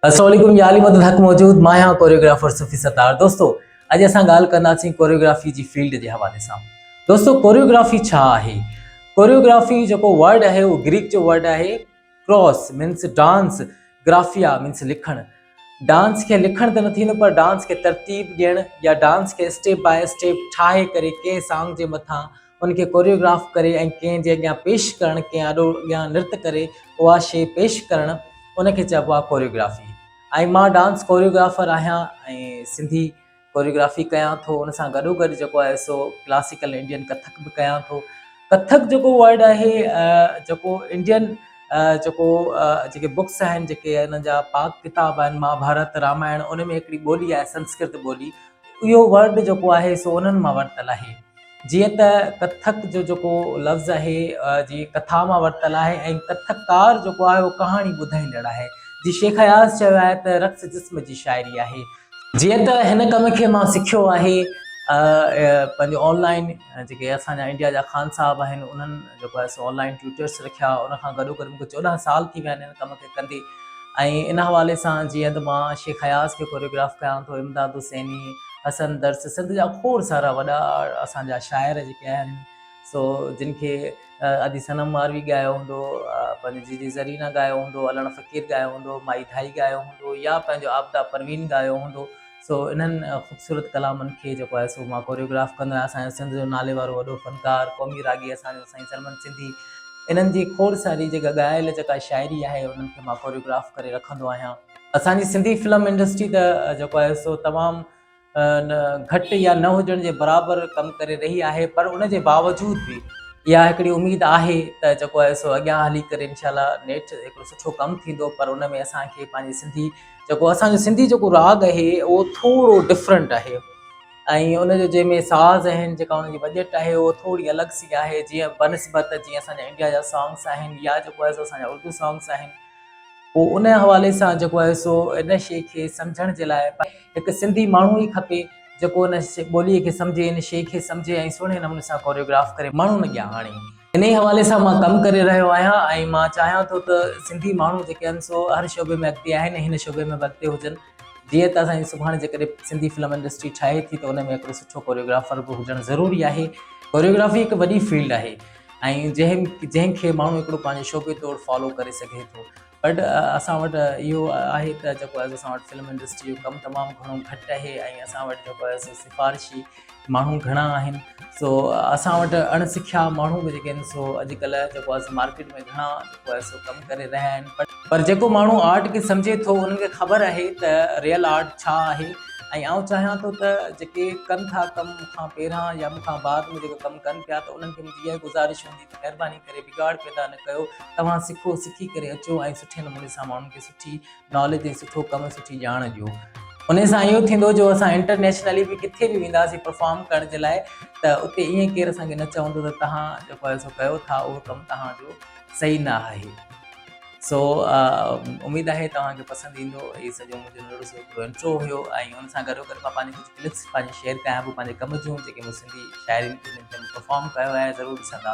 السلام عليڪم يا علي مدد حق موجود مان آهيان ڪوريوگرافر صوفي ستار دوستو اڄ اسان ڳالهه ڪنداسين ڪوريوگرافي جي فيلڊ جي حوالي سان دوستو ڪوريوگرافي ڇا آهي ڪوريوگرافي جيڪو ورڊ آهي اهو گريڪ جو ورڊ آهي ڪراس مينس ڊانس گرافيا مينس لکڻ ڊانس کي لکڻ ته نه ٿيندو پر ڊانس کي ترتيب ڏيڻ يا ڊانس کي اسٽيپ باء اسٽيپ ٺاهي ڪري ڪنهن سانگ جي مٿان ان کي ڪوريوگراف ڪري ۽ ڪنهن جي اڳيان پيش ڪرڻ، ڪنهن آڏو اڳيان نرت ڪري اها شيء پيش ڪرڻ، ان کي چئبو آهي ڪوريوگرافي ۽ مان ڊانس ڪوريوگرافر آهيان ۽ سنڌي ڪوريوگرافي ڪيان ٿو ان سان گڏو گڏ جيڪو آهي سو ڪلاسيڪل انڊين ڪٿڪ به ڪيان ٿو. ڪٿڪ جيڪو ورڊ آهي جيڪو انڊين جيڪو جيڪي بڪس آهن جيڪي انهن جا پاڪ ڪتاب آهن مها ڀارت رامائڻ ان ۾ هڪڙي ٻولي آهي سنسڪرت ٻولي اهو ورڊ جيڪو آهي سو انهن مان ورتل آهي. جيئن ته ڪٿڪ جو جيڪو لفظ آهي جي ڪٿا مان ورتل آهي ۽ ڪٿڪار جيڪو آهي اهو ڪهاڻي ٻڌائيندڙ آهي جي شيخ اياز چيو آهي ته رقص جسم جي شاعري آهي جيئن ته هن ڪم کي مان سکيو آهي پنهنجو آنلائن جيڪي اسان جا انڊيا جا خان صاحب آهن انهن جيڪو آهي سو آنلائن ٽيوٽرس رکيا ان کان گڏو گڏ مونکي چوڏهن سال ٿي ويا آهن هن ڪم کي ڪندي ۽ ان حوالي سان جيئن ته مان شيخ اياز کي ڪوريوگراف ڪيان ٿو امداد حسيني حسن درس سنڌ جا کوڙ سارا وڏا اسان جا شاعر جيڪي آهن سو جن کي ادي صنم ماروي ڳايو هوندو پنهنجي جيجي زرينا ڳايو هوندو علڻ فقير ڳايو هوندو مائي ڌائي ڳايو هوندو يا پنهنجو آبدا پروين ڳايو هوندو سو انهن خوبصورت ڪلامن کي جيڪو آهي سو مان ڪوريوگراف ڪندو آهيان اسان سنڌ جو نالي وارو وڏو فنڪار قومي راڳي اسان جو سائين سلمان سنڌي انهن جي کوڙ ساري جيڪا ڳايل جيڪا شاعري آهي انهن کي مان ڪوريوگراف ڪري رکندو آهيان اسان جي سنڌي فلم انڊسٽري ته جيڪو آهي سو تمام گهٽ يا نه هجڻ جي برابر ڪم ڪري رهي آهي پر ان جي باوجود به اها هڪڙي اميد آهي ته جيڪو آهي سو اڳيان هلي ڪري انشاء الله نيٺ هڪڙو سٺو ڪم ٿيندو پر ان ۾ اسان کي پنهنجي سنڌي جيڪو اسان جو سنڌي جيڪو راڳ آهي اهو ٿورو ڊفرنٽ آهي ۽ ان جو جنهن ۾ ساز آهن جيڪا ان جي بجيٽ آهي اهو ٿوري الڳ سي آهي جيئن بنسبت جيئن اسان جا انڊيا جا سانگس آهن يا جيڪو آهي سو اسان جا اردو سانگس آهن پوء ان حوالي سان جيڪو آهي سو ان شيء کي سمجهڻ جي لاء هڪ سنڌي ماڻهو ئي کپي جيڪو ان ٻوليء کي سمجهي، ان شيء کي سمجهي ۽ سهڻي نموني سان ڪوريوگراف ڪري ماڻهن اڳيان آڻي. انهيء حوالي سان مان ڪم ڪري رهيو آهيان ۽ مان چاهيان ٿو ته سنڌي ماڻهو جيڪي آهن سو هر شعبي ۾ اڳتي آهن ۽ هن شعبي ۾ به اڳتي هجن. جيئن ته اسان جي سڀاڻي جيڪڏهن سنڌي فلم انڊسٽري ٺاهي ٿي ته ان ۾ هڪڙو سٺو ڪوريوگرافر به هجڻ ضروري آهي. ڪوريوگرافي هڪ وڏي فيلڊ آهي. ۽ جنهن جنهن کي ماڻهو هڪڙو پنهنجي شعبي طور فالو ڪري سگهي ٿو بٽ اسان وٽ اهو آهي ته جيڪو آهي اسان وٽ فلم انڊسٽري جو ڪم تمام گهڻو گهٽ آهي ۽ اسان وٽ جيڪو آهي سو سفارشي ماڻهو گهڻا آهن سو اسان وٽ اڻ سکيا ماڻهو به جيڪي آهن سو اڄڪلهه جيڪو آهي سو مارڪيٽ ۾ گهڻا هو ايسو ڪم ڪري رهيا آهن پر جيڪو ماڻهو آرٽ کي سمجهي ٿو انهن کي خبر آهي ته ريئل آرٽ ڇا آهي ۽ آئون چاهيان ٿو ته جيڪي ڪن ٿا ڪم مون کان پهران يا مون کان بعد ۾ جيڪو ڪم ڪن پيا ته انهن کي منهنجي اها گذارش هوندي ته مهرباني ڪري بگاڙ پيدا نه ڪيو توهان سکو سکي ڪري اچو ۽ سٺي نموني سان ماڻهن کي سٺي ناليج ۽ سٺو ڪم سٺي ڄاڻ ڏيو ان سان اهو ٿيندو جو اسان انٽرنيشنلي به ڪٿي به وينداسي پرفارم ڪرڻ جي لاء ته اتي ائين ڪير اسان کي نه چوندو ته تهان جيڪو اهو ڪيو ٿا اهو ڪم تهان جو صحيح نه آهي سو اميد آهي توهان کي پسند ايندو هي سڄو منهنجو ننڍڙو سو هڪڙو انٽرو هيو ۽ ان سان گڏو گڏ مان پنهنجي ڪجهه ڪلپس پنهنجي شيئر ڪيان پيو پنهنجي ڪم جون جيڪي مون سنڌي شاعرين پرفارم ڪيو آهي ضرور ڏسندا